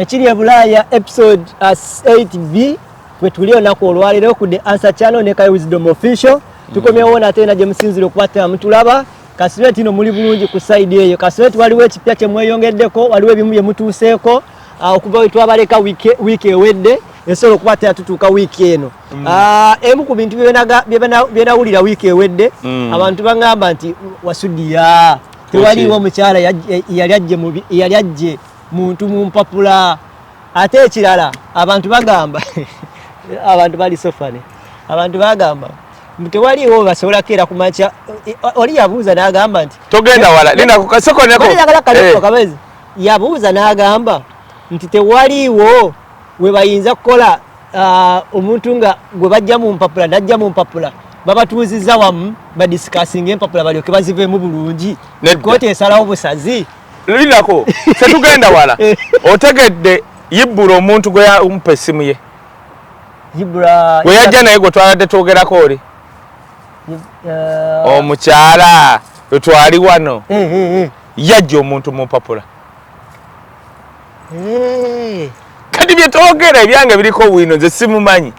Ekiri e Bulaaya episode 8B uh, we tuli olunaku olwaleero ku the answer channel ne Kai Wisdom Official. Tukomyewo mm. nate na gye musinzira okuba tena mutulaba. Kasireti ino muli bulungi ku side eyo. Kasireti waliwo ekipya kye mweyongeddeko, waliwo ebimu bye mutuuseeko uh, okuva we twabaleka wiiki ewedde esobola okuba tena tutuuka wiiki eno. Mm. Uh, emu ku bintu bye nawulira wiiki ewedde mm. abantu baŋŋamba nti wasudiya tewaliwo mukyala yali ajje muntu mu mpapula ate ekirala abantu bagamba abantu bali sofane abantu bagamba tewaliwo basobola keera ku makya eh, oli yabuuza n'agamba nti togenda wala linakukasokonekojagala kale eh. kabezi yabuuza n'agamba nti tewaliwo we bayinza kukola ah, omuntu nga gwe bajja mu mpapula najja mu mpapula babatuuzizza wamu badisikasinga empapula balyoke baziveemu bulungi kooti esalawo busazi lindako tetugenda wala otegedde yibbula omuntu gwe yamupa essimu ye gwe yajja naye gwe twabadde twogerako oli uh, omukyala wetwali wano eh, eh, eh. yajja omuntu mumpapula kati byetwogera ebyange biriko bwino nze simumanyi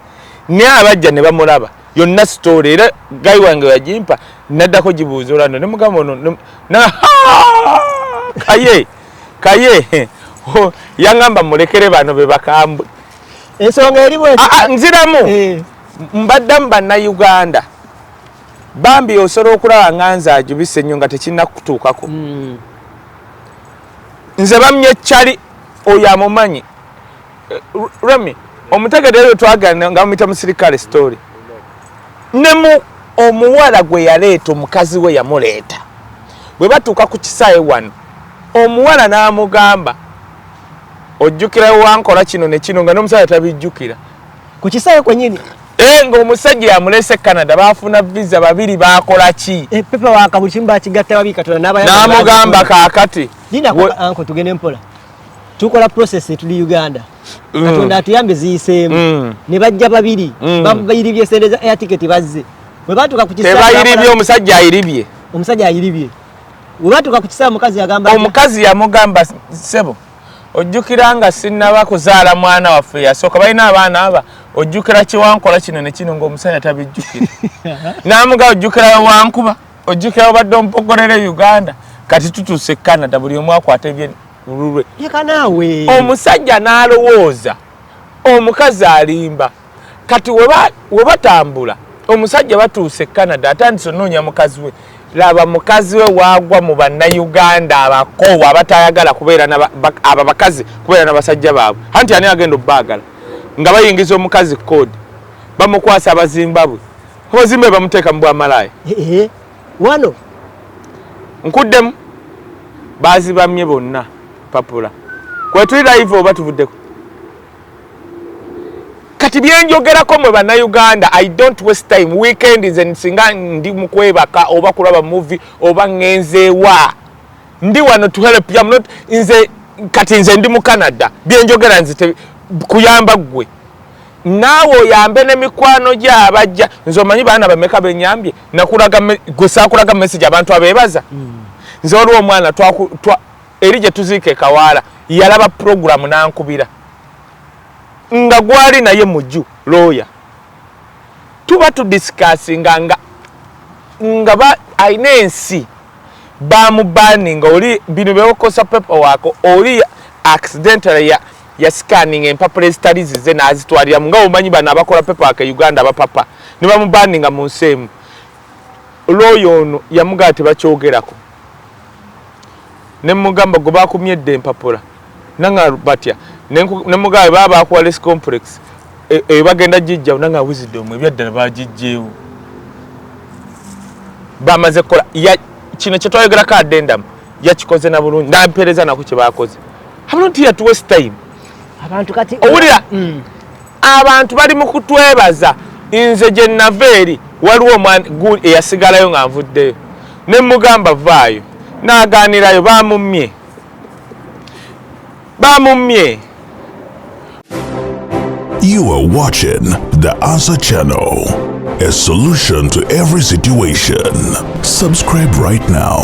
naye abajja ne bamulaba yonna story era guy wange yajimpa naddako gibuuza olwando ne mugamba ono na kaye kaye oh, yangamba mulekere bano be bakambwe ensonga eri bwe ah, ah, nziramu eh. mbaddamu bannayuganda bambi osobola okulaba nga nze ajubise nnyo nga tekirina kutuukako hmm. nze bamye cali oyo amumanyi Remy omutegede lwe twagana nga mumita musirikale story ne mu omuwala gwe yaleeta omukazi we yamuleeta bwe batuuka ku kisaawe wano omuwala n'amugamba ojjukira wankola kino ne kino nga n'omusajja tabijjukira ku kisaawe kwenyini Eh, ng'omusajja yamulese canada bafuna visa babiri bakola ki eh, n'amugamba kakati tukola process etuli uganda mm. katonda atuyambe ziyiseemu mm. ne bajja babiri mm. babayiribye sente za air ticket bazze bwe batuuka ku kisabayiribye omusajja ayiribye omusajja ayiribye bwe batuuka ku kisaa mukazi yagamba omukazi yamugamba sebo ojjukira nga sinnaba kuzaala mwana waffe yasooka balina abaana aba ojjukira kiwankola kino ne kino ng'omusajja tabijjukira namuga ojjukira wankuba ojjukira obadde ompogolera e uganda kati tutuuse canada buli omu akwata ebyelulwe omusajja n'alowooza omukazi alimba kati webatambula omusajja batuuse e canada atandise onoonya mukazi we laba mukazi we wagwa mu bannayuganda abakoowu abatayagala kubeeraaba bakazi kubeera na basajja baabwe anti ani agenda obaagala nga bayingiza omukazi koodi bamukwasa abazimbabwe Hozimbe bamuteeka mu bwa malaaya. Eh, eh, wano. Nkuddemu. Baazibamye bonna papula. Kwetuli live oba tuvuddeko. Kati byenjogerako mwe bannayuganda I don't waste time weekend nze nsinga ndi mu kwebaka oba kulaba movie oba ngenzeewa ndi wano to help you. I'm not nze kati nze ndi mu Canada byenjogera nze kuyamba gwe naawe oyambe ne mikwano gye abajja nze omanyi baana bameka benyambye nakulaga gwe sakulaga message abantu abebaza mm. nze waliwo omwana eri gye tuziika ekawaala yalaba puroguramu nankubira nga gwali naye muju looya tuba tudisikasinga nga nga alina ensi bamubaninga oli bino byewokosa pepa wako oli accidentally ya yasikaninga empapula ezitali zize n'azitwaliramu nga omanyi bano abakola pepaka e uganda abapapa ne bamubandinga mu nsi emu looya ono yamugamba tebakyogerako ne mugamba gwe bakumye edda empapula nanga batya ne mugamba baba bakuwa les complex eyo e, bagenda gijjawo nanga wisdom ebyaddala bagijjeewo bamaze kukola kino kyetwayogerako adendamu yakikoze na bulungi nampeereza nako kyebakoze I'm not here to waste time. Abantu kati owulira mm. abantu bali mu kutwebaza nze gye nava eri waliwo omwana eyasigalayo nga nvuddeyo ne mugamba vaayo n'agaanirayo baamummye baamummye You are watching the Answer Channel, a solution to every situation. Subscribe right now.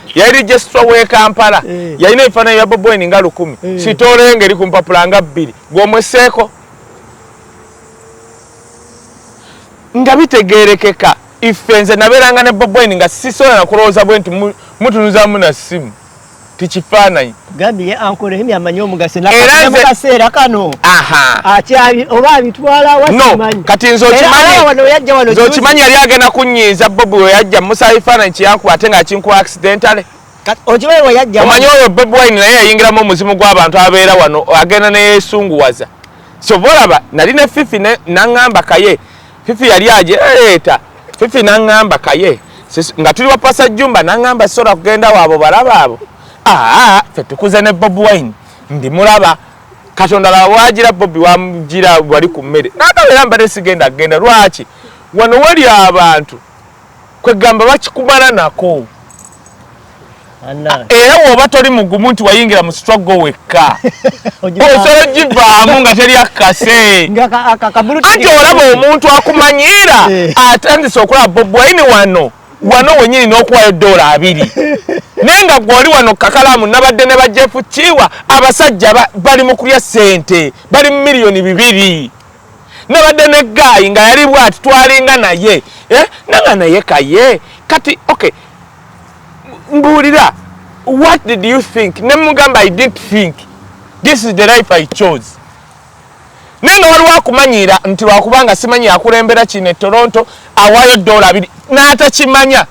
yali registra we kampala eh. yalina ebifaananyi bya bobweni nga lukumi eh. sitole nga eri ku mpapula nga bbiri gwomweseeko nga bitegerekeka ife nze nabeeranga ne bobweni nga sisobola nakulowooza bwe nti mutunuzamu na ssimu tikifaananyi gambye ye ankola emi amanyi omugaso nakaseera kano akyali oba abitwala wakimanyi kati nze okimanyi yali agenda kunyiiza bobi weyajja musa ebifaananyi kyeyankuba ate nga akinkuwa accidentale omanyi oyo bobi wine naye yayingiramu omuzimu gw'abantu abeera wano agenda neyesunguwaza kyova olaba nali ne fifi naŋŋamba kaye fifi yali aje leeta fifi nangamba kaye nga tuli wapasa jumba nangamba sora kugenda wabo balaba abo aa fe tukuze ne bob wine ndi mulaba katonda laba wajira bobi wamjira wali ku mmere nakabeera mbadde sigenda kugenda lwaki wano wali abantu kwegamba bakikumala nako era woba toli mugumu nti wayingira mu struggle wekka osobola ogivaamu nga teri akkase anti olaba omuntu akumanyiira eh. atandise okulaba bobwaini wano wano wenyini n'okuwayo doola abiri naye nga gwe oli wano kakalaamu nabadde ne bajefu kiwa abasajja bali mu kulya ssente bali mu miliyoni bibiri nabadde ne gaayi nga yali bwati twalinga naye eh, nanga naye kaye kati ok mbuulira what did you think ne mugamba i didn't think this is the life i chose naye nga waliwo akumanyiira nti lwakubanga simanyi akulembera kino e toronto awaayo dola abiri n'atakimanya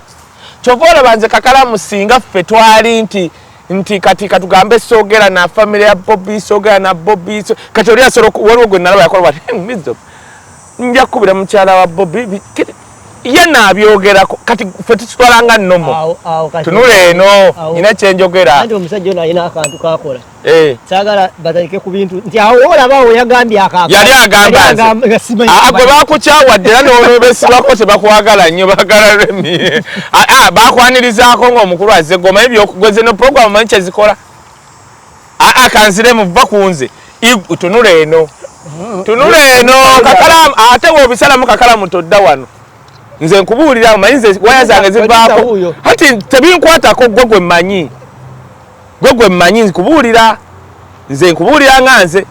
kyova olaba nze kakalamu singa ffe twali nti nti kati katugambe sogera na family ya Bobby sogera na Bobby so, kati oli asoro waliwo gwe nalaba yakola bati hey, mizo nja kubira mukyala wa Bobby ye nabyogera kati fe tutwala nga nomo tunule eno ina kyenjogera andi omusajja ono alina akantu kakola eh. sagala batalike ku bintu nti awo olaba awo yagambye akako yali agamba nti ah, gwe bakukyawadde era nobesibako tebakwagala nnyo bagala remi ah, ah, bakwanirizaako ngaomukulu azze gwe omanyi byokugweze no program omanyi kyezikola aa ah, kanziremu va ku nze tunula eno tunula eno kakalamu ate wobisalamu kakalamu todda wano nze nkubuulira manyi nze waya zange zivaako hati tebinkwatako gwe gwe mmanyi gwe gwe mmanyi nkubuulira nze nkubuulira nga nze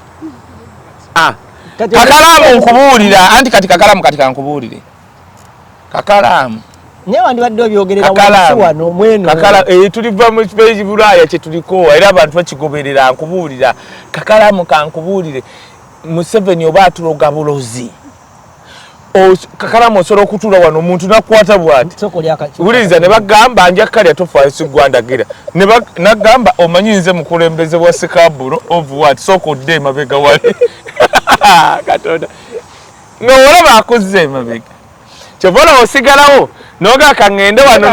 kakalamu nkubuulira anti kati kakalamu kati kankubuulire kakalaamu naye wandibadde obyogerera wansi wano mweno kakala eh, tuliva mu kibeji bulaaya kye tuliko era abantu bakigoberera nkubuulira kakalamu kankubuulire museveni oba atuloga bulozi kakalamu osobola okutuula wano omuntu nakwata bwati wuliriza ne bagamba nja kalya tofaayo sigwandagira nagamba omanyi nze mukulembeze wa sikaburo of wat sooka odde emabega wali katonda nga olaba akuzza emabega kyova olaba osigalawo noga kangende wano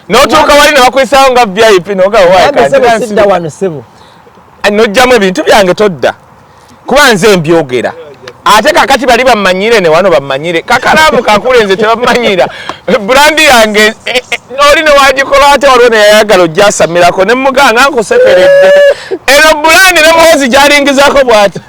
notuuka wali nebakuyisawo nga vip nogawasidda wano sebo nojjamu ebintu byange todda kuba nze mbyogera ate kakati bali bamanyire newano bamanyire kakalaamu kakule nze tebamanyira brandi yange eh, eh, oli newagikola ate waliwo neyayagala ojjasamirako nemuganga nkusekeredde eno brandi nemuhozi gyalingizako bwati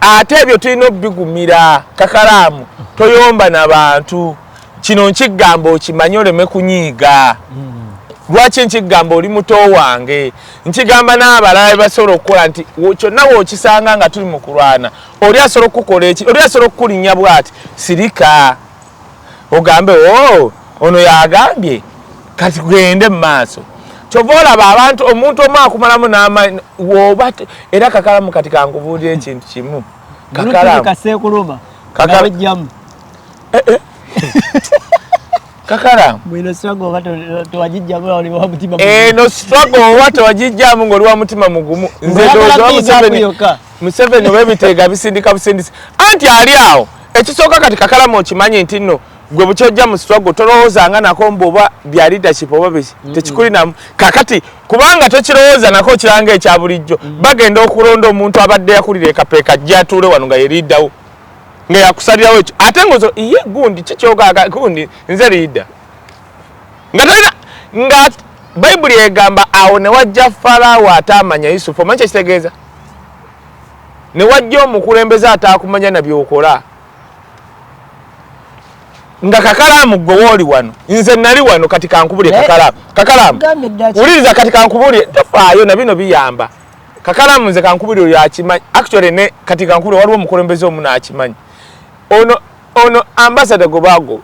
ate ebyo tulina obigumira kakalaamu toyomba na bantu kino nkigamba okimanyi oleme kunyiiga lwaki nkigamba oli muto wange nkigamba n'abalala bebasobola okukola nti kyonna wokisanga nga tuli mu kulwana oli asobola okukukola eki oli asobola okukulinnya bwati sirika ogambe oh, ono yagambye kati gende mumaaso kyova olaba abantu omuntu omu akumalamu n'amaanyi woba era kakalamu kati kankubuulira ekintu kimu kakalamukaseekuluma kakalamu eh, eh. kakalamu eno struggle oba tewagijjamu ng'oli wa mutima mugumu nze ndowooza museveni oba ebiteega bisindika busindisi anti ali awo ekisooka kati kakalama okimanyi nti nno gwe bukyojja mu struggle tolowooza nga nako mbu oba bya leadership oba biki tekikulinamu kakati kubanga tokirowooza nako okiranga ekya bulijjo bagenda okulonda omuntu abadde yakulira ekapeeka ajja atuule wano nga yeriidawo nga yakusalirawo ekyo ate ngozo iye gundi kikyogaga gundi nze liida nga tolina nga bayibuli egamba awo ne wajja falaawo ate amanya yusufu omanyi kyekitegeeza ne wajja omukulembeze ataakumanya na byokola nga kakalaamu gwe wooli wano nze nali wano kati kankubulye kakalaamu kakalaamu wuliriza kati kankubulye tofaayo na bino biyamba kakalaamu nze kankubulye oyo akimanyi actually ne kati kankubulye waliwo omukulembeze omu naakimanyi ono ono ambasada gwe baagoba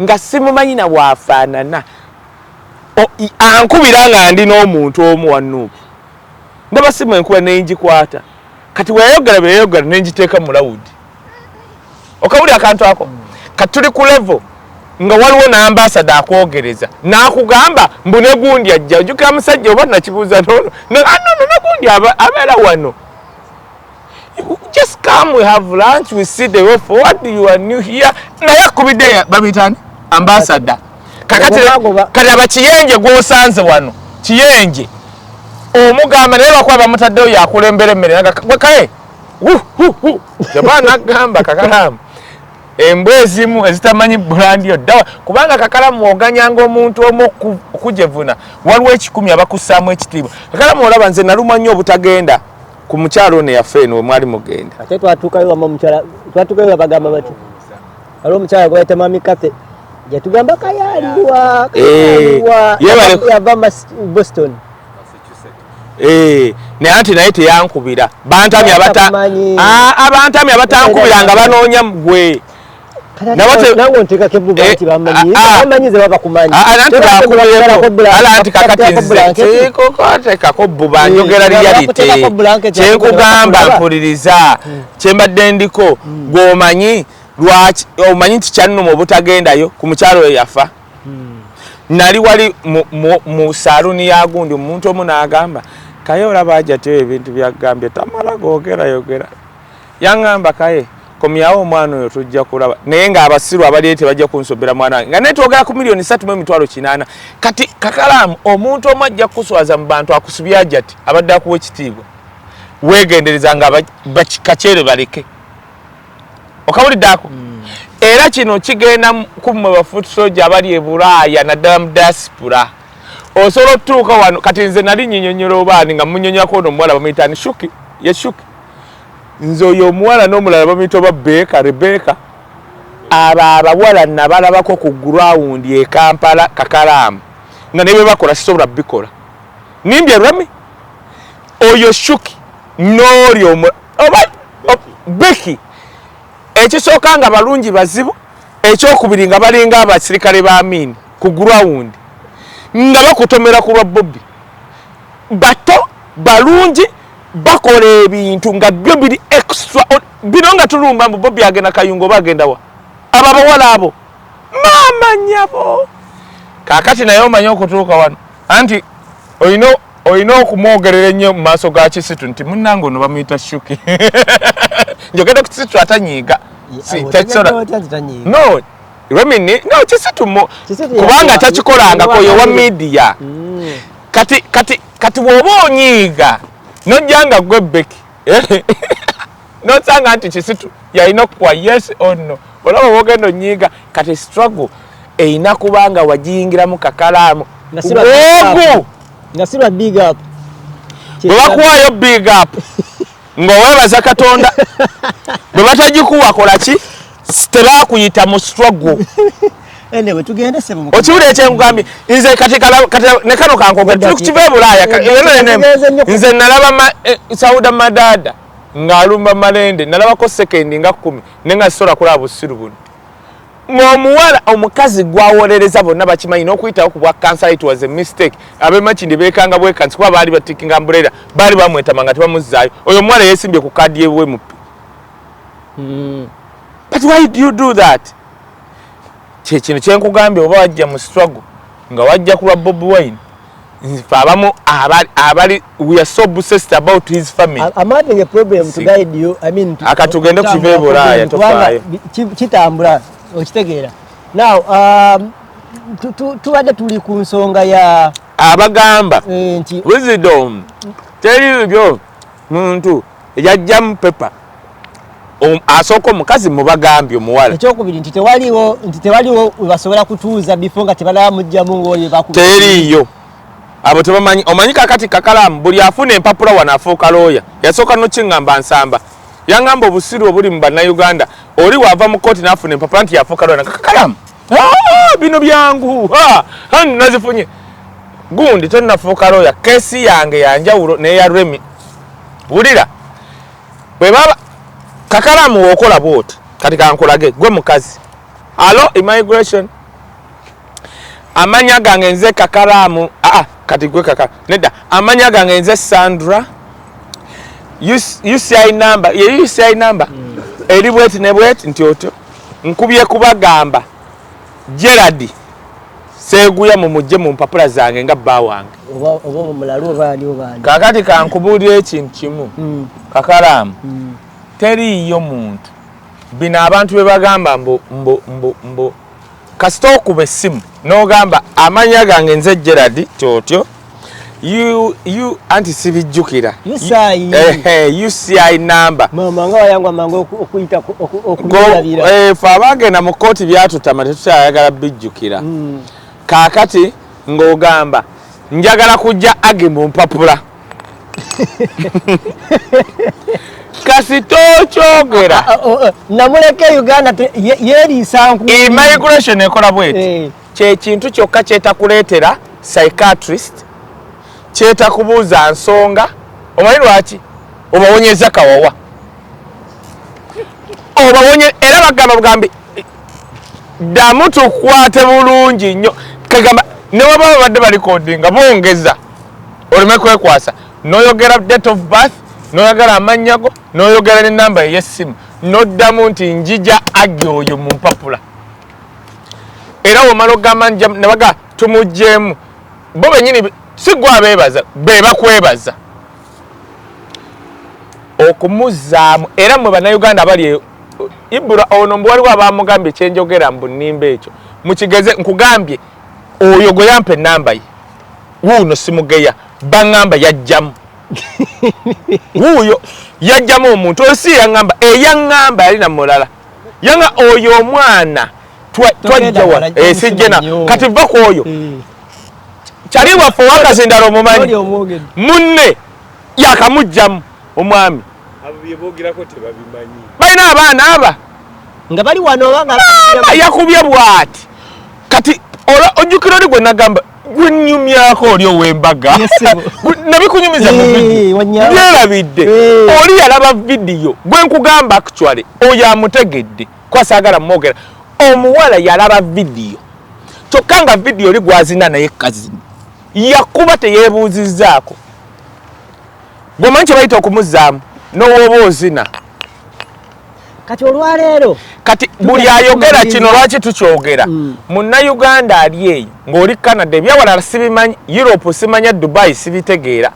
nga simumanyi na bwafaanana ankubira nga ndi n'omuntu omu wanuupu ndaba simu enkuba nenjikwata kati weyayogera byeyayogera nenjiteeka mu lawudi okawuli akantu ako kati tuli ku levo nga waliwo nambasada akwogereza nakugamba mbu negundi ajja ojukira musajja oba nakibuuza nono ah, negundi abeera wano just come we have lunch we see the way forward you are new here naye akubidde babitani ambassador kakati kati abakiyenje gwosanze wano kiyenje omugamba naye lwakuba bamutaddeyo yakulembera emmere kae kyova nagamba kakalamu embwa ezimu ezitamanyi bulandi oddawa kubanga kakalamu oganyanga omuntu omu okujevuna waliwo ekikumi abakussaamu ekitiibwa kakalamu olaba nze nalumwa nnyo obutagenda ku mukyala ono yafa eno wemwali mugenda ate twatuukayo wama omukyala twatuukayo babagamba bati waliwo omukyala gwebayita mami kathe yatugamba kayaliwa eh, yava boston eh, naye anti naye teyankubira bantamye ah, abantamye abatankubira nga banoonya gwe nange onteekako ebbuba eh, nti bamanyi ah, ah. bamanyi ze baba kumanyiantibakumanyitekako ah, bbuba eh, njogera liyalite kyenkugamba mpuliriza hmm. kyembadde ndiko hmm. gwomanyi lwaki omanyi nti kyannuma obutagendayo ku mukyalo oyo yafa hmm. nali wali mu saluuni ya gundi omuntu omu n'agamba kaye olaba ajatyo ebintu byagambye tamala gogerayogera yangamba kaye komyawo omwana oyo tujja kulaba naye nga abasiru abaliyo tebajja kunsobera mwana wange nga naye twogera ku miliyoni satu mu emitwalo kinaana kati kakalaamu omuntu omu ajja kukuswaza mu bantu akusubye ajati abadde akuwa ekitiibwa weegendereza nga bakikakyere baleke okawulidde ako hmm. era kino kigenda kummwe bafuuti soja abali e bulaaya naddala mu diaspora osobola otutuuka wano kati nze nali nyinyonyola obaani nga munyonyako ono omuwala bamuyitani shuki ye shuki nze oyo omuwala n'omulala bamuyita oba beeka rebeka abo abawala nabalabako ku gurawundi e kampala kakalaamu nga ne bebakola sisobola bikola nimbye rami oyo shuki n'oli oba beki ekisooka nga balungi bazibu ekyokubiri nga balinga abasirikale ba amiini ku gurawundi nga bakutomera ku lwa bobi bato balungi bakola ebintu nga byo biri extra bino nga tulumba mbu bobi agenda kayungo oba agenda wa abo abawala abo maama nyabo kakati naye omanyi okutuuka wano anti olina olina okumwogerera ennyo mu maaso ga kisitu nti munnange ono bamuyita shuki njogedde ku kisitu atanyiiga no remini no kisitu kubanga takikolangako yowa midiya mm. kati kati kati bwoba onyiiga nojja nga gwe beki eh? nosanga nti kisitu yalina okukuwa yes or no olaba wogenda onyiiga kati struggle erina kuba nga wagiyingiramu kakalaamu ogu nga siba big up bwebakuwaayo big up ng'oweebaza katonda bwe batagikuwa kola ki tebakuyita mu struggle okiwuli ekyenkugambye nze kati ne kano kankogera tuli kukiva e bulaaya nze nalaba eh, sauda madada ng'alumba malende nalabako sekendi nga kkumi ne nga sisobola kulaba busiru buno ng'omuwala omukazi gwawolereza bonna bakimanyi n'okuyitawo ku bwa kansala it was a mistake abemakindi beekanga bwekansi kuba baali batikinga mbuleera baali bamwetama nga tebamuzzaayo oyo omuwala yeesimbye ku kaadi yewe mupi hmm. but why do you do that kyekino kyenkugambye oba wajja mu struggle nga wajja kulwa bobi wine nzife abamu abali abali we are so obsessed about his family i'm having a problem to guide you i mean to akatugende ku kive boraya tofaye kitambula okitegeera now um tubadde tuli ku nsonga ya abagamba eh, nti wisdom teri byo muntu yajjamu pepa asooka omukazi mubagambye omuwala ekyokubiri nti tewaliwo nti tewaliwo webasobola kutuuza bifo nga tebalaba mujjamu ngaoyo teriiyo abo tebamanyi omanyi kakati kakalamu buli afuna empapula wano afuuka looya yasooka nokiŋamba nsamba yaŋamba obusiru obuli mu bannayuganda oli waava mu kooti nafuna empapula nti yafuuka looya nakakalamu Ah, bino byangu nazifunye gundi tenafuuka looya kesi yange yanjawulo neya remi wulira bwebaba kakalamu wokola bwoti kati kankulage gwe mukazi alo immigration amanya gange nze kakalamu aa ah, ah, kati gwe kakala nedda amanya gange nze sandra uci number ye uci number mm. eri bweti ne bweti nti otyo Nkubye kubagamba Gerard Seguya mumujje mu mpapula zange nga bba wange. Kakati kankubuulira ekintu kimu mm. kakalaamu mm. teriiyo muntu bino abantu bebagamba mbu kasita okuba essimu n'ogamba amanya gange nze gerard tyotyo anti sibijjukira uci eh, eh, namba eh, fe abagenda mu kkooti byatutama tetukyayagala bijjukira hmm. kaakati ng'ogamba njagala kujja age mu mpapula kasita okyogera ah, ah, oh, eh, namuleka e uganda yeriisa nku immigration ekola bweti eh. kyekintu kyokka kyetakuleetera psychiatrist kyetakubuuza nsonga omanyi lwaki obawonyeza kawawa obawonye era bagamba bugambi ddamu tukwate bulungi nnyo kagamba newaba babadde balikodinga bongeza oleme kwekwasa noyogera date of birth noyagala amannya go noyogera nenamba eyessimu noddamu nti njija agi oyo mu mpapula era womala ogamba nabaga tumugyemu bo benyini sigwa bebaza bebakwebaza okumuzaamu era mwe bannayuganda abali e, ibura ono mbu waliwo abamugambye kyenjogera mbu nimba ekyo mukigeze nkugambye oyo gweyampa enamba ye wuuno simugeya baŋŋamba yajjamu wuuyo yajjamu omuntu oyo si yaŋŋamba eyaŋŋamba yali na mulala yanga oyo omwana twajjawa eh, sijjena kati va ku oyo hmm. kyali waffe owakazindala omumanyi munne yakamujjamu omwami balina abaana aba nga bali wano yakubye bwati kati ola ojjukira oli gwe nagamba gunyumyako oli owembaga nabikunyumiza mubyerabidde oli yalaba vidiyo gwe nkugamba actually oyo amutegedde kwasagala mumwogera omuwala yalaba vidiyo kyokka nga vidiyo oli gwazina naye kazini yakuba teyebuuzizaako gwemanyi kyebayita okumuzaamu nowooba ozina kati olwaleero kati buli ayogera kino lwaki tukyogera mm. munnayuganda ali eyo ng'oli canada ebyawalala sibimanyi europe simanya dubai sibitegeera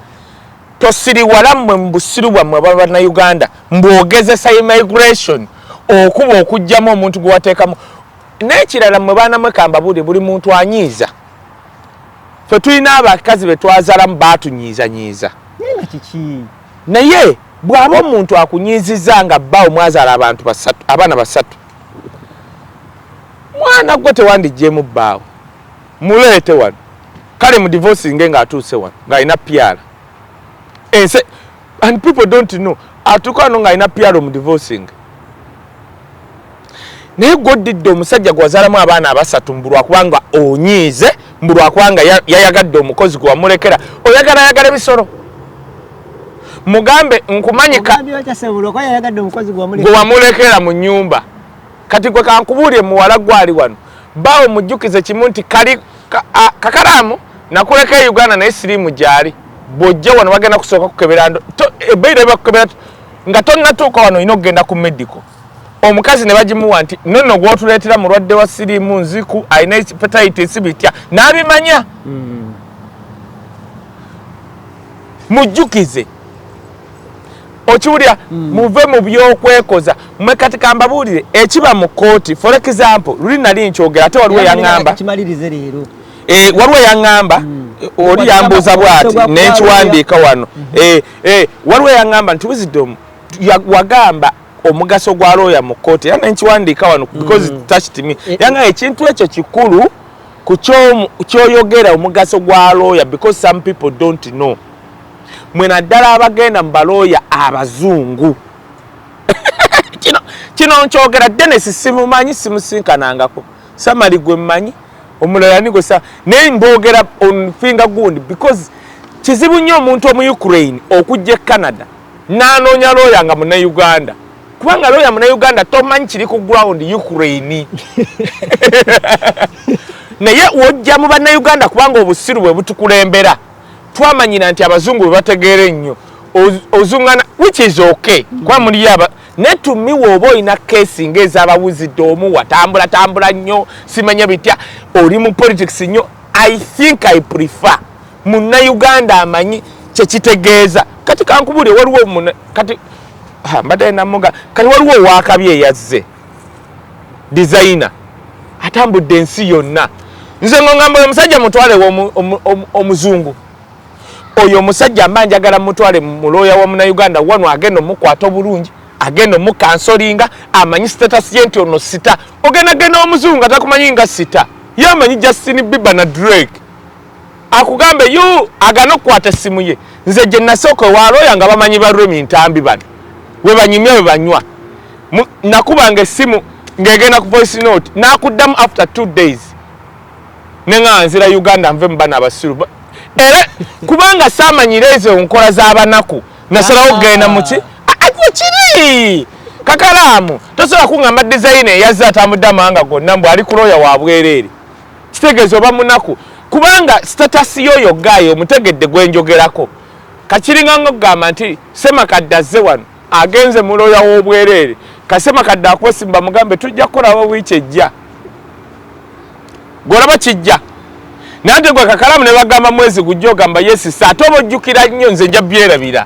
tosiriwala mmwe mu busiru bwammwe aba bannayuganda mbwogezesa immigration okuba okugyamu omuntu gwe wateekamu n'ekirala mmwe baana mwekamba buli buli muntu anyiiza fe tulina abakazi be twazalamu baatunyiizanyiiza kiki Naye bwaba omuntu akunyiiziza nga bbawo mwazala abantu basatu abaana basatu mwana gwe tewandijjemu bbaawo muleete wano kale mu divorce nge nga atuuse wano nga alina pyala ense and people don't know atuuka wano nga alina pyalo mu divorce nge naye gwoddidde omusajja gwewazaalamu abaana abasatu mbu lwakubanga onyiize mbu lwakubanga yayagadde omukozi gwe wamulekera oyagala ayagala ebisolo mugambe nkumanyika gwe wamulekera mu nyumba kati gwe kankubuulire muwala gwali wano baawo mujjukize kimu nti kali kakalaamu nakuleka e uganda naye siriimu gyali bwojja wano bagenda kusooka kukebera ebaira ebakukebera nga tonnatuuka wano olina okugenda ku medical omukazi ne bagimuwa nti nonno gwotuleetera mulwadde wa siriimu nziku alina hepatitis bitya n'abimanya hmm. mujjukize okiwulira hmm. muve mu byokwekoza mwe kati kambabuulire ekiba mu kkooti for example luli nali nkyogera ate waliwo yaŋŋamba eh, waliwo yaŋŋamba hmm. oli yambuuza bwati nenkiwandiika wano eh, eh, waliwo yaŋŋamba nti wizidomu wagamba omugaso gwa looya mu kkooti era nenkiwandiika wano mm. because mm. touched me eh, era nga ekintu ekyo kikulu ku kyoyogera omugaso gwa looya because some people don't know mwe naddala abagenda mu balooya abazungu kino kino nkyogera denesi simumanyi simusinkanangako samali gwe mmanyi omulala nigo sa naye mboogera on finger gundi because kizibu nnyo omuntu omu ukraine okujja e canada n'anoonya looya nga munauganda kubanga looya munauganda tomanyi kiri ku ground ukraine naye wojja mu bannauganda kubanga obusiru bwe butukulembera twamanyira nti abazungu bwe bategeera ennyo ozungana which is okay kuba muliyo aba naye tumiwa oba olina kesi nga ezabawuzidde omu watambula tambula nnyo simanya bitya oli mu politics nnyo i think i prefer munnayuganda amanyi kyekitegeeza kati kankubuli waliwo kati mbadde namuga kati waliwo owakabi eyazze dizayina atambudde ensi yonna nze ngo ngamba oyo musajja mutwalewo omuzungu oyo omusajja mba njagala mutwale mulooya wa munauganda wano agenda omukwata obulungi agenda omukansolinga amanyi status ye nti ono sita ogenda genda omuzungu atakumanyi nga sita ye amanyi justin biba na drake akugambe you agana okukwata essimu ye nze gye nasooka ewalooya nga bamanyi ba remi ntambi bano we banyumya we banywa nakubanga essimu ng'egenda ku voice note nakuddamu after two days ne nga nzira uganda nve mu bana abasiru era kubanga saamanyira ezo nkola z'abanaku nasalawo okugenda ah. muki kiri kakalaamu tosobola kuŋamba dizayina eyazze atambudde amawanga gonna mbu ali kulooya wa bwereere kitegeeza oba munaku kubanga status yoyo gayo omutegedde gwenjogerako kakiringa nga okugamba nti semakadde azze wano agenze muloya wobwereere kasemakadde akuwesimba mugambe tujja kukolaba wiiki ejja golaba kijja naye te gwe kakalamu ne bagamba mwezi gujja ogamba yesisa ate oba ojjukira nnyo nze nja byerabira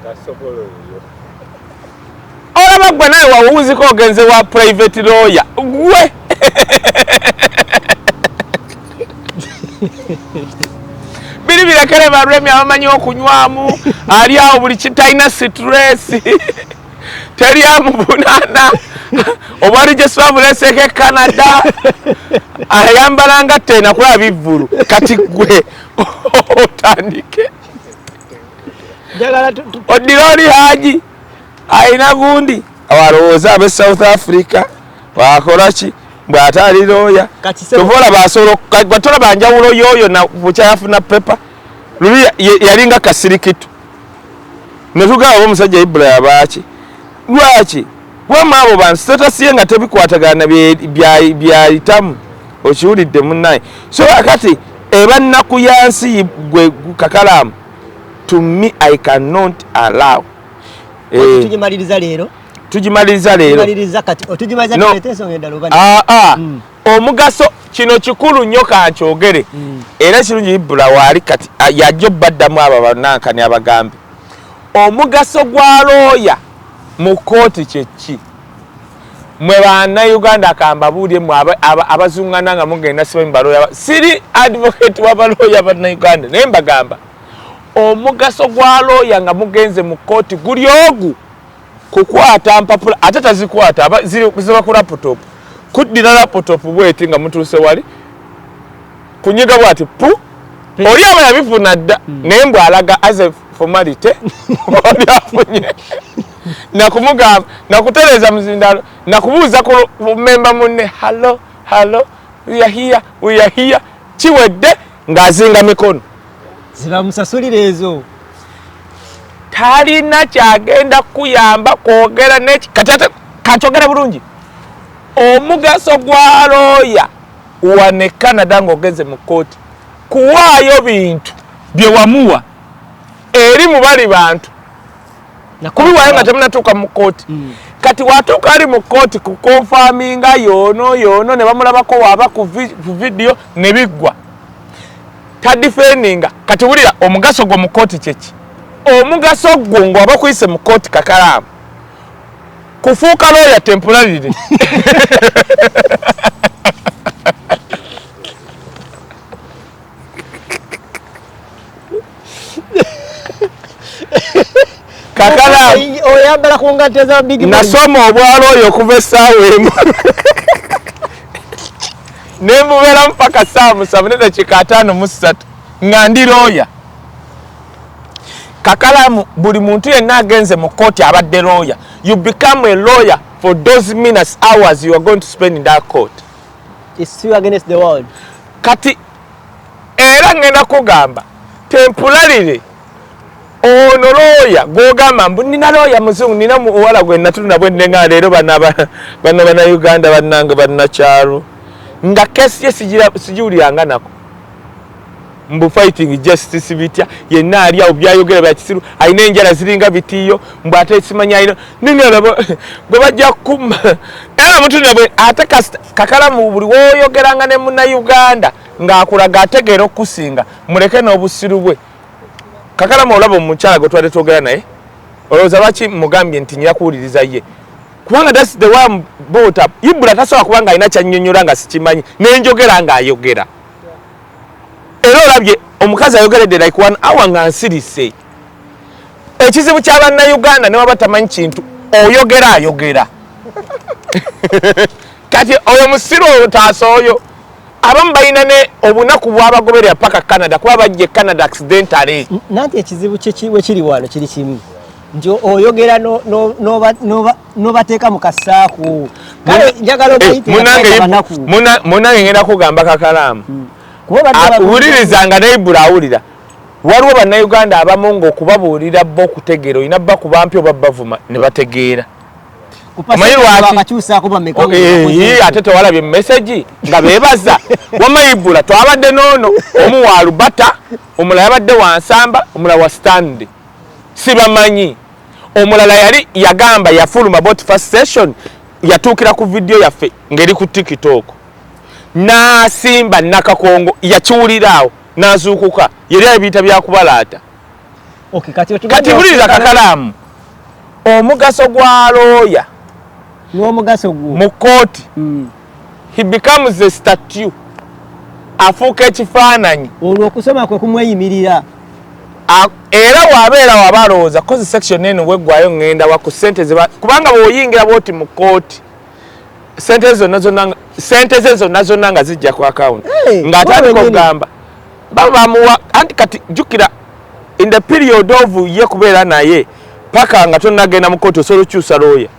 olaba gwe naye wawuuzika ogenze wa private lawyer gwe biri birekere balwemi abamanyi okunywamu ali awo buli kitalina sitresi teri amuvunana obwali gyesibabuleseko e canada ayambalanga tena kulaba bivvulu kati gwe otandike odironi haji alina gundi awalowooza abe south africa wakolaki bwatali looya kyova olaba asobola batolaba njawulo yoyo bukyayafuna pepa luli yalinga kasirikitu netugaba omusajja ibula yabaaki lwaki wama abo bantu statasiye nga tebikwatagana byayitamu okiwulidde munaye so akati eba nnaku ya nsi gwe kakalaamu to me i cannot allow eh. tugimaliriza leero tugimaliriza leero ah, ah. hmm. omugaso kino kikulu nnyo kankyogere hmm. era kirungi ibula waali kati ah, yajja obaddamu abo abanankani abagambe Omugaso gwa looya mu kkooti kye ki? Mwe Bannayuganda kambabuulire mwe abazungana nga mugenda simanyi balooya. Siri advocate wa balooya Bannayuganda naye mbagamba omugaso gwa looya nga mugenze mu kkooti guli ogu kukwata mpapula ate tazikwata ziba ku laputopu kuddira laputopu bweti nga mutuuse wali kunyiga bwati pu oli aba yabifuna dda hmm. naye mbw alaga as a formality oli afunye nakumugamba nakutereeza muzindalo nakubuuza ku memba munne hallo hallo weahiya weahiya kiwedde ng'azinga mikono zibamusasulira ezo talina kyagenda kuyamba kwogera neki kati ate kakyogera bulungi omugaso gwa looya wane canada ngaogenze mu kooti kuwaayo bintu byewamuwa eri mubali bantu kubiwayo nga temunatuuka mu kooti mm. kati watuuka ali mu kooti kukonfaminga yoono yoono ne bamulabako waaba ku vidiyo ne biggwa tadifendinga kati wulira omugaso gwo mu kooti kyeki omugaso gwo ngaoba kuyise mu kooti kakalaamu kufuuka looya temporarily oyambala ku ngatto eza big nasoma obwala oyo okuva essaawa emu ne mbubeeramu paka ssaawa musanvu nedakiika ataano mu ssatu nga ndi looya kakalamu buli muntu yenna agenze mu kooti abadde lawyer you become a lawyer for those minutes hours you are going to spend in that court It's still against the world kati era ngenda kugamba tempulalire ono looya gwogamba mbu nina looya muzungu nina muwala gwe natulina bwendenga leero bana bana uganda banange banakyalo nga kesi ye sigiwuliranga nako mbu fighting justice bitya yenna ali awo byayogera bya kisiru alina enjala ziringa bitiyo mbu ate ekimanya alina ninalaba gwe bajja kukuma era mutu nabwe ate kakalamu buli woyogeranga ne muna uganda ng'akulaga ategeera okukusinga muleke n'obusiru bwe kakalamu olaba omukyala gwe twali twogera naye olowooza lwaki mugambye nti nyira kuwuliriza ye kubanga thats the one bota ibula tasobola kubanga alina kyanyonyola nga sikimanyi nenjogera ng'ayogera era olabye omukazi ayogeredde like one hour nga nsirise ekizibu kya bannayuganda ne waba tamanyi kintu oyogera ayogera kati oyo musiru oyo taasa oyo abamu balina ne obunaku bwabagoberera paka canada kuba bajja e canada accidentale nanti ekizibu wekiri wano kiri kimu nti oyogera noba nobateeka mu kasaako kale njagala obayiteabanaku eh, munange ngenda kugamba kakalaamu hmm. ah, wuliriza nga naibura awulira waliwo bannayuganda abamu ngaokubabuulira bo okutegeera olina bakuba mpi oba bavuma ne bategeera oh, eh, ate tewalabye mumesegi nga bebaza wamaibula twabadde noono omu wa lubata omulala yabadde wansamba omulala wa stanley sibamanyi omulala yali yagamba yafuluma bot first session yatuukira ku vidiyo yaffe ngeri ku tiktok n'asimba nakakongo yakiwuliraawo n'azuukuka yali abiyita byakubalaata kati buliriza kakalaamu omugaso gwa looya n'omugaso gwo mu kkooti mm. he becomes a statue afuuka ekifaananyi olwo okusoma kwe kumweyimirira era wabeera waba alowooza kozi section eno weggwayo ŋŋenda wa ku sente zeba kubanga bweoyingira bwoti mu kkooti sente zonna zonna sente ze zonna zonna nga zijja ku akawunti ng'atandika okugamba baba bamuwa anti kati jjukira in the period of ye kubeera naye paka nga tonnagenda mu kkooti osobola okukyusa looya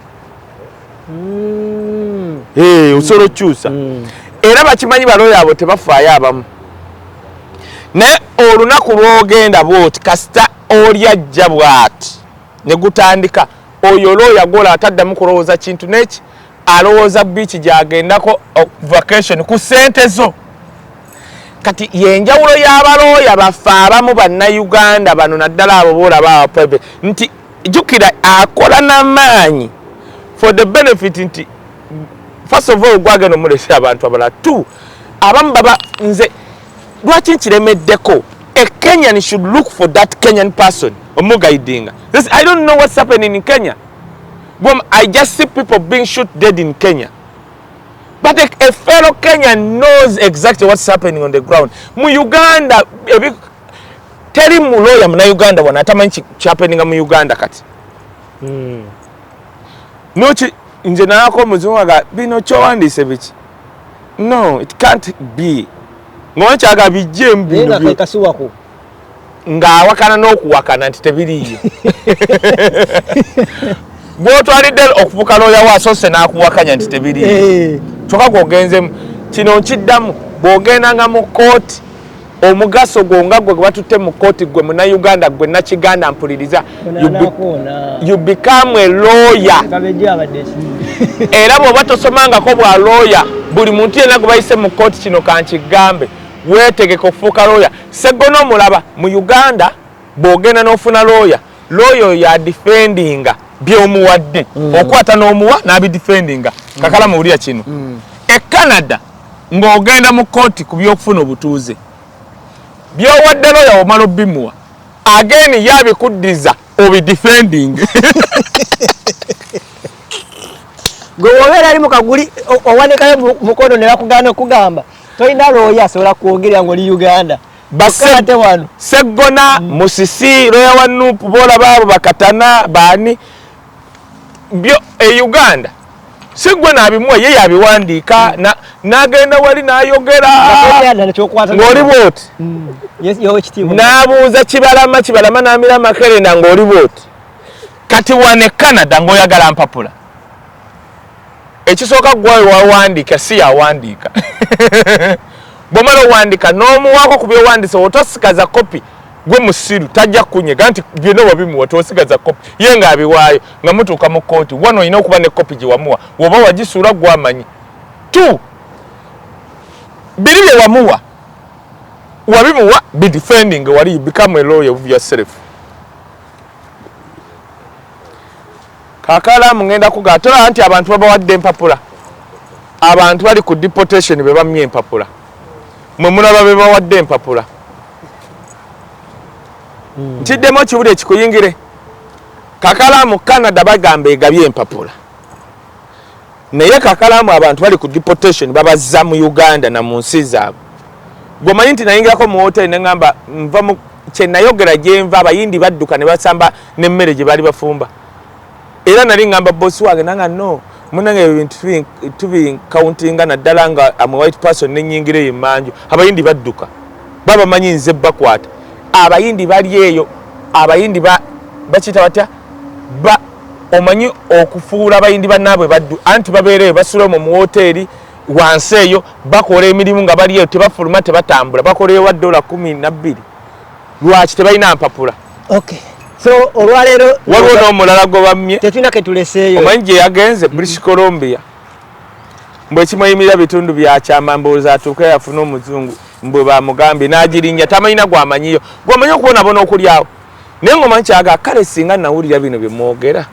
mm. hey, eh, osobola okukyusa mm. era bakimanyi baloyo abo tebafaayo abamu naye olunaku lwogenda bwoti kasita oli ajja bwati negutandika oyo olooya gwola ataddamu kulowooza kintu neki alowooza biiki gyagendako oh, vacation ku sente zo kati yenjawulo y'abalooya baffe abamu bannayuganda bano naddala abo boolaba abaprivate nti jukira akola namaanyi for the benefit nti first of all gwagenda omulesa abantu abala t abamu baba nze lwaki nkiremeddeko a kenyan should look for that kenyan person omugaidinga this i don't know what's happening in kenya Boom, i just see people being shoot dead in kenya but a, a fellow kenyan knows exactly what's happening on the ground mu uganda teri mu lawyer muna Uganda wana atamanyi kyapeninga mu Uganda kati mm. noki nje nalako muzungu aga bino kyowandise biki no it can't be ngoba kyaga bijje mbino ng'awakana n'okuwakana nti tebiriiyo gwotwalidde okufuka looya waasose n'akuwakanya nti tebiriiyo eh. kyokka gwogenzemu kino nkiddamu bw'ogendanga mu kooti omugaso gwo nga gwe batutte mu kkooti gwe muna uganda gwe nakiganda mpuliriza you become a lawyer era bwoba tosomangako bwa lawyer buli muntu yena gwe bayise mu kkooti kino kankigambe wetegeka okufuuka lawyer seggona omulaba mu uganda bwogenda n'ofuna lawyer lawyer oyo adifendinga byomuwadde mm. okwata n'omuwa n'abidifendinga kakala muwulira kino mm. e canada ng'ogenda mu kkooti ku by'okufuna obutuuze byowadde looya womala obimuwa ageeni ye abikuddiza obidifending gwe wobeera ali mu kaguli owandikayo mukono ne bakugaana okugamba tolina looya asobola kwogerera ng'oli uganda bakate wano seggona mm. musisi looya wa nupu boolaba abo bakatana baani byo e Uganda si gwe nabimuwa ye yabiwandiika mm. nagenda wali nayogera ng'oli bwoti mm. n'abuuza kibalama kibalama n'amira makerenda ng'oli bwoti kati wane canada ng'oyagala mpapula ekisooka gwawe wawandiika si yawandiika bwomala owandiika n'omuwaako ku byowandise otosikaza kopi gwe musiru tajja kunyega nti byona wabimuwa tosigaza kopi ye nga abiwaayo nga mutuuka mu kooti wano olina okuba ne kopi gyewamuwa woba wagisuula gwamanyi t biri byewamuwa wabimuwa be defending wali you become a lawyer of yourself kakala mungenda kuga tola nti abantu babawadde empapula abantu bali ku deportation bebamye empapula mwe mulaba bebawadde empapula hmm. nkiddemu okibude ekikuyingire kakalaamu canada bagamba egabye empapula naye kakalaamu abantu bali ku deportation babazza mu uganda na mu nsi zaabwe gwemanyi nti nayingirako mu hoteli neŋamba nva kyenayogera gyenva abayindi badduka ne basamba n'emmere gye baali bafumba era nali ngamba boss wange nanga no munange ebintu tubi countinga naddala nga am a white person nenyingira eyo emanju abayindi badduka baba manyi nze bakwata abayindi bali eyo abayindi bakiyita batya ba omanyi okufuula abayindi banaabwe baddu anti babeereyo basula mu muwoteeri wansi eyo bakola emirimu nga bali eyo tebafuluma tebatambula bakoleyo wa dola kumi nabbiri lwaki tebalina mpapula okay so olwaleero waliwo n'omulala gwe bammye tetulina ke tuleseeyo omanyi gye yagenze british columbia mbu ekimweyimirira bitundu byakyama mboozi atuuke yafuna omuzungu mbwe bamugambye n'agirinya tamanyina gwamanyiyo gwamanyi okubonabona okulyawo naye ngaomanyi kyaga kale singa nawulira bino bye mwogera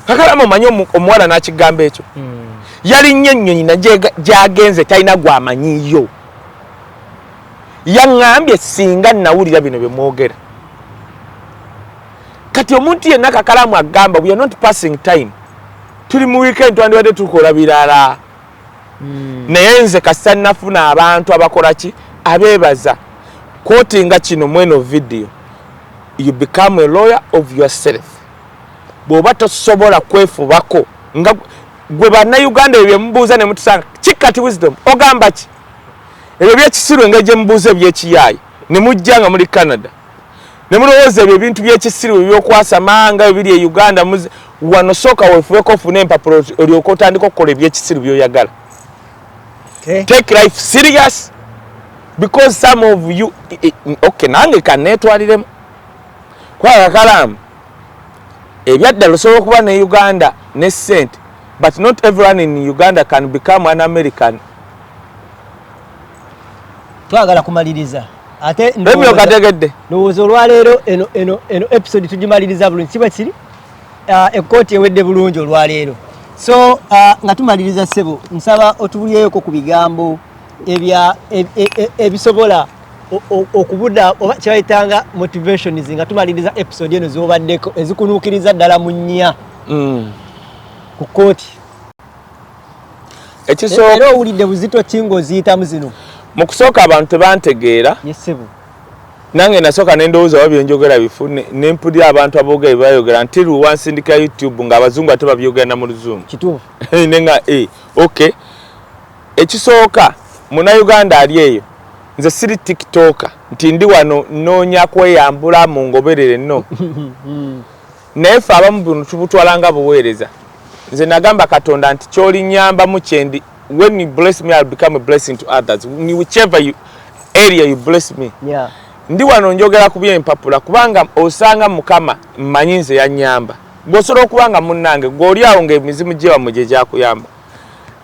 kakalamu omanyi omuwala n'akigamba ekyo hmm. yalinnya ennyonyi nagyagenze talina gwamanyiyo yaŋŋambye singa nawulira bino bye mwogera kati omuntu yenna kakalamu agamba we are not passing time tuli mu weekend twandibadde tukola birala hmm. naye nze kasita nafuna abantu abakola ki abeebaza kwotinga kino mweno vidiyo you become a lawyer of yourself bw'oba tosobola kwefubako nga gwe bannayuganda ebyo byemubuuza ne mutusanga kikati wisdom ogamba ki ebyo byekisiru engeri gyemubuuza ebyekiyaayi nemujja nga muli canada nemulowooza ebyo ebintu byekisiru ebyokwasamanga ebiri e uganda wano sooka wefubeko ofune empapula olyoka otandika okukola ebyekisiru byoyagala okay. take life serious because some of you okay nange kanetwaliremu kwagakalamu ebyaddala osobola okuba ne uganda ne sente But not everyone in Uganda can become an American. Twagala kumaliriza. Ate Emi okategedde. Nowooza olwaleero eno eno eno episode tugimaliriza bulungi kiba kiri uh, ekkooti ewedde bulungi olwaleero. So uh, nga tumaliriza ssebo nsaba otubulyeeko ku bigambo ebya e, e, e, ebisobola okubuda oba kyebayitanga motivations nga tumaliriza episode eno zobaddeko ezikunuukiriza ddala mu nnya. Mm. ku kkooti ekisooka era owulidde buzito ki ng'oziyitamu zino mu kusooka abantu tebantegeera yesebo nange nasooka nendowooza oba byenjogera bifu nempulira abantu aboogera bebayogera nti luwa nsindika youtube nga abazungu ate babyogera na mu luzungu kituufu nenga e ok ekisooka munauganda ali eyo nze siri tiktoka nti ndi wano nnoonya kweyambula mungoberere no naye ffe abamu bunu tubutwala nga buweereza nze nagamba katonda nti kyolinyambamu kyendi when you bless me I'll become a blessing to others whichever you, area you bless me yeah. ndi wano njogera ku byempapula kubanga osanga mukama mmanyi nze yanyamba gwosobola okuba nga munnange gweoli awo ngaemizimu gyewamwe gye gyakuyamba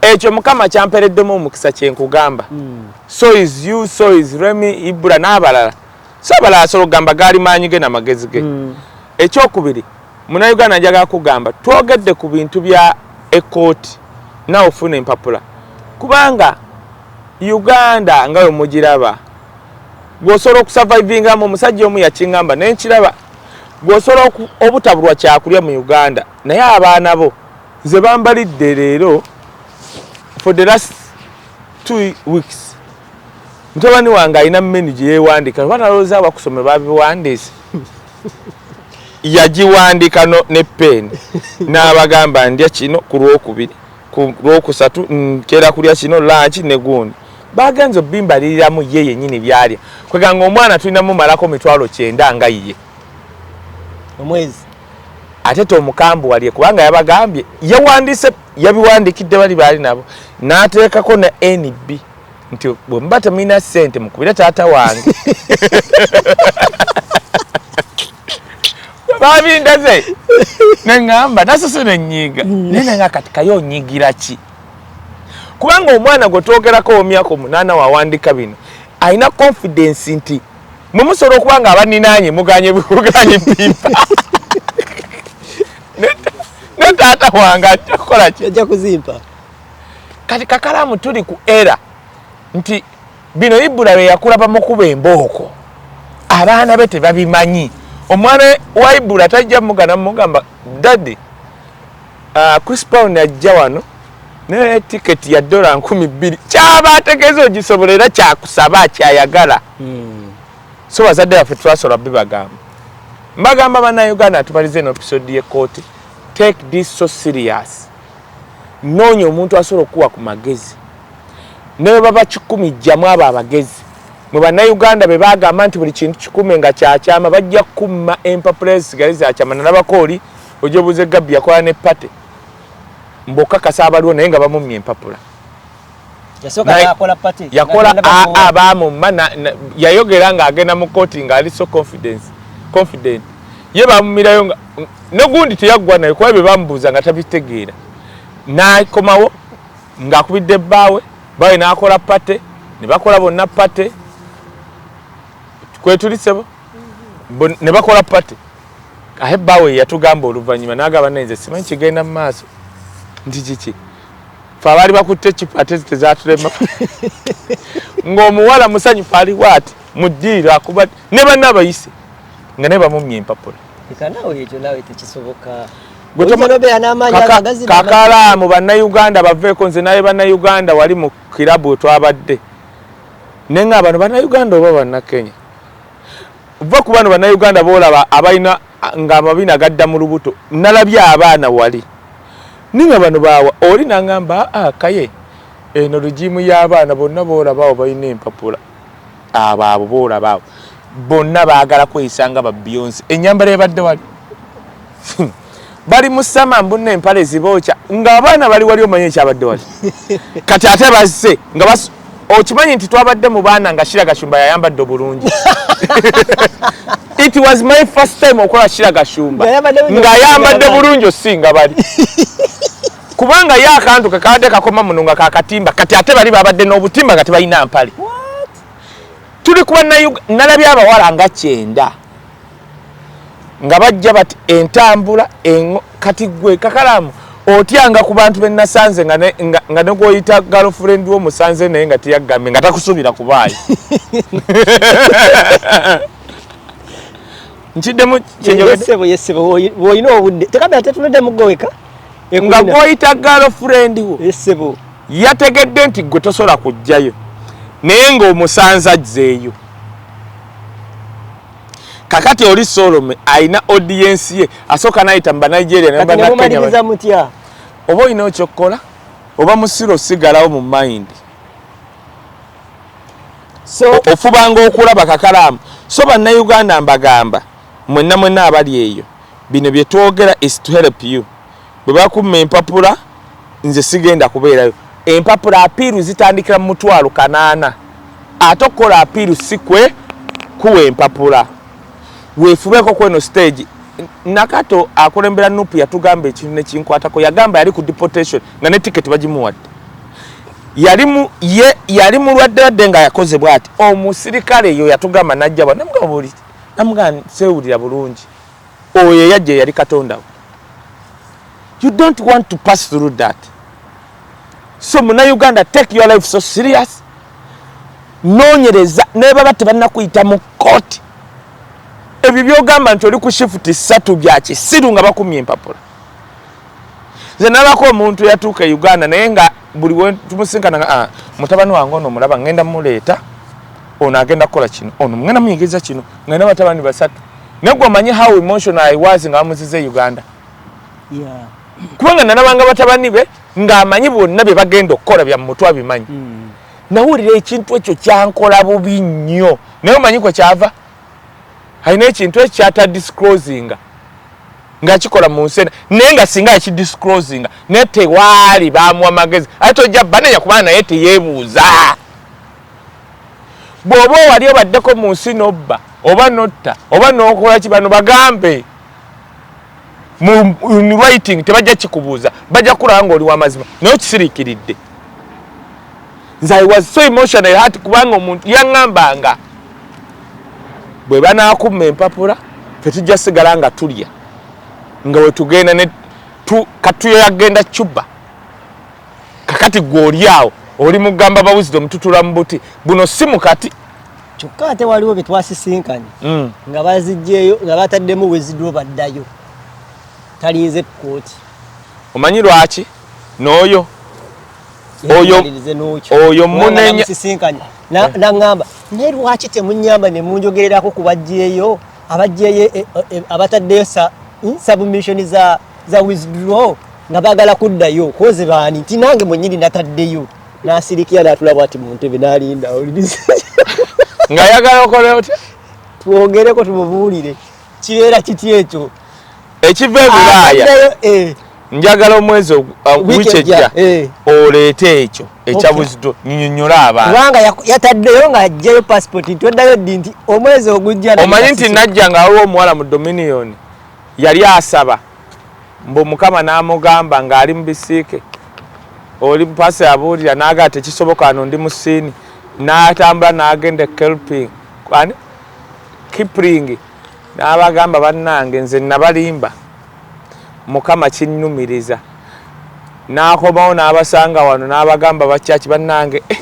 ekyo mukama kyampereddemu omukisa kyenkugamba mm. so is you so is remy ibura n'abalala Sabala asolo gamba gaali maanyi ge na magezi ge. Mm. Ekyokubiri muna Uganda njaga kugamba twogedde ku bintu bya ekooti nawe ofuna empapula kubanga Uganda nga we mugiraba gwosobola okusavaivingamu omusajja omu yakingamba naye nkiraba gwosobola obutabulwa kyakulya mu Uganda naye abaana bo nze bambalidde leero for the last two weeks mutabani wange alina menu gye yeewandiika oba nalowooza abakusome babiwandiise yagiwandika ne peeni n'abagamba ndya kino ku lwokubiri ku lwokusatu nkera kulya kino lanki ne gundi bagenza obimbaliriramu ye yenyini byalya kweganga omwana tulina mumalako mitwalo kyenda nga ye omwezi ate tomukambu walye kubanga yabagambye yawandiise yabiwandikidde bali baali nabo n'ateekako ne nb nti bwe muba temulina ssente mukubire taata wange babindaze neŋamba nasose nenyiiga mm. naye nenga kati kaye onyigira ki kubanga omwana gwe twogerako omyaka omunaana wawandika bino alina confidence nti mwe musobola okuba nga abaninaanye muganye buganye bimba ne taata wange ajja kukola ki ajja kuzimpa kati kakalamu tuli ku era nti bino ibula lwe yakulaba mukuba embooko abaana be tebabimanyi omwana wa ibula tajja mugana mugamba dadi uh, chris pound ajja wano naye tiketi ya dola nkumi bbiri kyaba ategeeza ogisobola era kyakusaba kyayagala hmm. so bazadde baffe twasobola bibagamba mbagamba banauganda tubalize eno episode yekooti take this so serious noonya omuntu asobola okukuwa ku magezi ne bwe baba kikumi jjamu abo abagezi mwe bannayuganda be bagamba nti buli kintu kikume nga kyakyama bajja kukumma empapula ezisigale zakyama nalabako oli ojobuuze gabbi yakola ne pate mbokakasa abaliwo naye nga bamummye empapula yakola aa bamumma yayogera nga agenda mu koti nga ali so confidence confident ye bamumirayo nga negundi teyaggwa naye kuba bye bamubuuza nga tabitegeera nakomawo ng'akubidde bbaawe baawe n'akola pate ne bakola bonna pate kwetulisebo ne bakola pate aye bbaawe yatugamba oluvannyuma n'agaba naye nze simanyi kigenda mu maaso nti kiki fe abaali bakutte ekipa ate zitezatulema ng'omuwala musanyufu ali waati mu ddiiro akuba ne banna abayise nga naye bamumya empapula kakalaamu bannayuganda baveeko nze naye bannayuganda wali mu kirabu wetwabadde naye nga bano bannayuganda oba bannakenya va ku bano bannayuganda boolaba abalina nga amabina gadda mu lubuto nalabye abaana wali ninga bano bawa oli nangamba aa ah, kaye eno regimu y'abaana bonna boolabaawo balina empapula abo abo boolabaawo bonna baagala kweyisa nga babionsi enyambala ebadde wali hmm. bali musama mbunna empale zibookya ng'abaana bali wali omanye ekyabadde wali kati ate bazze nga okimanyi nti twabadde mu baana nga shira gashumba yayambadde obulungi it was my first time okola shira gashumba nga yambadde bulungi osinga bali kubanga ye akantu kekabadde kakoma muno nga kakatimba kati ate bali babadde n'obutimba nga tebalina mpale tuli kuba nalabye abawala nga kyenda nga bajja bati entambula engo kati gwe kakalamu otyanga ku bantu be nasanze nga ne nga ne goyita girlfriend wo musanze naye nga tiyagambe nga takusubira kubaayi nkiddemu kyenjogedde yesebo woyina obudde tekabira tetunedde mugoweka nga goyita girlfriend wo yesebo yategedde nti gwe tosobola kujjayo naye nga omusanze ajzeeyo kakati oli solome alina audience ye asooka nayita mu banigeria nebanakenya mutya oba olina okyokukola oba musiro sigalawo mu mind so ofubanga okulaba kakalaamu so bannauganda mbagamba mwenna mwenna abali eyo bino byetwogera is to help you Bwe bakumma empapula nze sigenda kubeerayo. Empapula apiiru zitandikira mu mutwalo kanaana ate okukola apiiru si kwe kuwa empapula. Weefubeeko ku eno siteegi. Nakato akulembera nup yatugamba ekintu ne kinkwatako. Yagamba yali ku deportation nga ne tiketi bagimuwadde. Yali mu ye yali mulwadde wadde nga yakoze bw'ati. Omusirikale eyo yatugamba n'ajja wano namugamba buli namugamba seewulira bulungi. oyo eyajja eyali katonda we you don't want to pass through that so muna uganda take your life so serious nonyereza nebaba tebanakuyita mu koti ebyo byogamba nti oli ku shifuti satu byakisiru nga bakumye empapula nze nalako omuntu yatuuka e uganda naye nga buli wetumusinkana ah, mutabani wange ono omulaba ngenda muleeta ono agenda kukola kino ono mugenda muyigiriza kino ngenda batabani basatu negwe omanyi how emotional i was nga bamuziza e uganda kubanga nalabanga batabani be ng'amanyi bonna bye bagenda okukola bya mumutwe abimanyi hmm. nawulira ekintu ekyo kyankola bubi nnyo naye omanyi kwe kyava alina ekintu ekyo kyatadisclosinga ngakikola mu nsi ena naye nga singa yakidisclosinga naye tewaali bamuwa magezi ate tojja banenya kubana naye teyebuuza bwoba owali obaddeko mu nsi nobba oba notta oba nokola ki bano bagambe writing tebajja kikubuuza bajja kulaba nga oli wamazima naye okisiriikiridde nze i was so emotional hat kubanga omuntu yaŋambanga bwe banakumma empapula tetujja sigala nga tulya nga wetugenda ne katuyagenda cuba kakati gwe oli awo oli mugamba bawuzire omututula mu buti buno si mukati kyokka ate waliwo bye twasisinkanye mm. nga bazijjeeyo nga bataddemu wezidwo baddayo talinze ku kooti omanyi lwaki n'oyo oyo munenya naŋamba naye lwaki temunyamba ne munjogererako ku bajjeeyo abajjeeyo e, e, e, abataddeyo hmm, submission za za withdraw nga bagala kuddayo koze baani nti nange mwenyini nataddeyo nasirikira natula bwati mu ntebe nalinda nga ayagala okole otya twogereko tumubuulire kibeera kiti ekyo ekiva ebulaaya eh. njagala omwezi uh, wiiki ejja eh. oleete ekyo ekyabuzidwa nyonyola abantu kubanga yataddeyo nga ajjayo pasipoti nti oddayo ddi nti omwezi ogujja omanyi nti najja nga waliwo omuwala mu dominioni Yali asaba mbu mukama namugamba nga ali mubisiike oli pasi abuulira naga tekisoboka ano ndi musiini natambula nagenda ekelping ani kipling nabagamba bannange nze nabalimba mukama kinnumiriza nakomawo nabasanga wano nabagamba bakyaki bannange eh,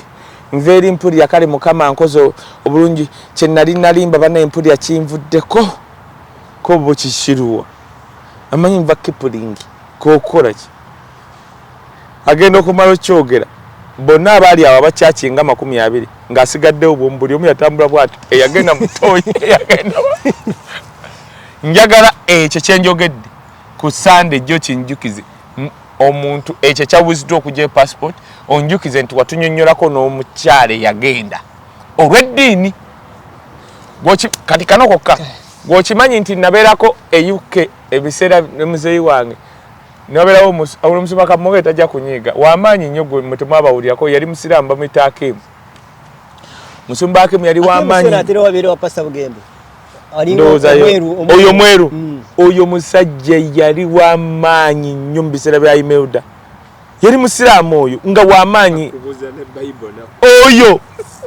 nva eri mpulira kale mukama nkoze obulungi kyenali nalimba bannaye mpulira kinvuddeko Ko bo kikiruwa? Amanyi nva kipulingi kokukola ki? Agenda okumala okyogera. Bonna abaali awo abakyaki nga makumi abiri nga asigaddewo bwomu buli omu yatambula bwati eyagenda mutoyi eyagenda njagala ekyo kyenjogedde ku sande jjo kinjukize omuntu ekyo ekyabuziddwa okugya e passport onjukize nti watunyonnyolako n'omukyala eyagenda olw'eddiini kati kano kokka Gwokimanyi nti naberako e UK ebiseera ne muzeyi wange naberawo omusoma kamoga etajja kunyiiga wamaanyi nnyo gwe mwe temwabawulirako yali musiraamu bamuyita Akim musumba Akim yali wamaanyi oyo mweru mm. oyo musajja yali wamaanyi nnyo mu biseera bya Imelda yali musiraamu oyo nga wamaanyi oyo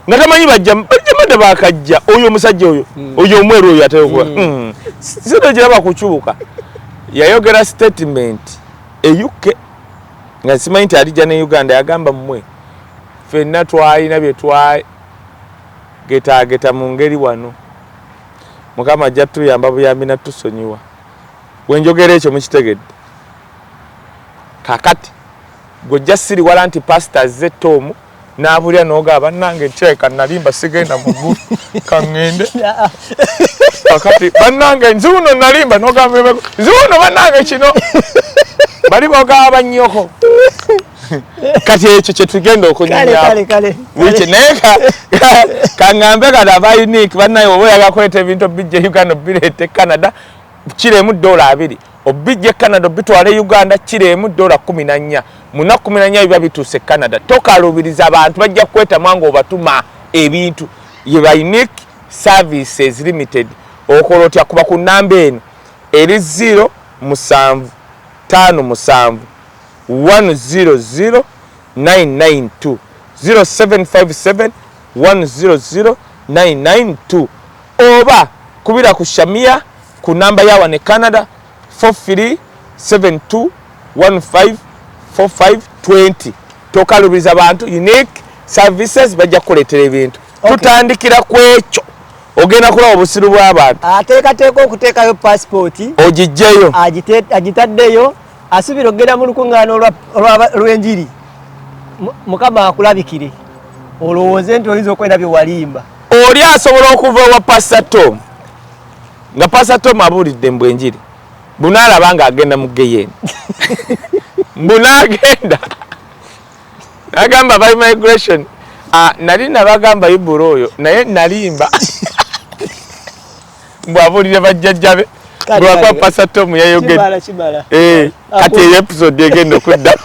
nga tamanyi bajjamada bakajja oyo omusajja oyo hmm. oyo omweru oyo ateokuba hmm. hmm. sente gira bakucubuka yayogera statement euk nga simanyi nti alija ne uganda yagamba mmwe fenna twalina byetwagetageta mu ngeri wano mukama ajja tuyamba buyambi natusonyiwa wenjogera ekyo mukitegedde kakati gwojja siriwala nti pasita azze tomu nabulira noga banange ntireka nalimba sigenda mugulu kaŋŋende kakati banange nziwuno nalimba nogamba nziwuno banange kino bali bogaba bannyoko kati ekyo kyetugenda okunyonyakangambe kati aba unique banaye oba oyagala kuleeta ebintu bijja uganda bireete canada kiremu dola abiri obijja e canada obitwala e uganda kiro emu dola kumi na nnya munaku kumi na nnya biba bituuse e canada tokaluubiriza abantu bajja kukwetamwa ngaobatuma ebintu ye ba unique services limited okola otya kuba ku namba eno eri ziro musanvu tano musanvu 100 992 0757 100 992 oba kubira ku shamia ku namba ya wano e canada 4372154520 tokalubiriza bantu unique services bajja kukuleetera ebintu tutandikira ku ekyo ogenda kulaba obusiru bw'abantu ateekateeka okuteekayo pasipooti ogijjeyo agitaddeyo asubira okugenda mu lukuŋŋaana olw'enjiri mukama akulabikire olowooze nti oyinza okwenda bye walimba oli asobola okuva ewa pasita tom nga pasa tom abuulidde mbu enjiri bunaalaba nga agenda mu geyeeni mbu naagenda nagamba by migration ah, nali nabagamba ibura oyo naye nalimba mbu abuulire bajjajjabe lwakwa pasa tom yayogedde eh, kati eyo episode egenda okuddamu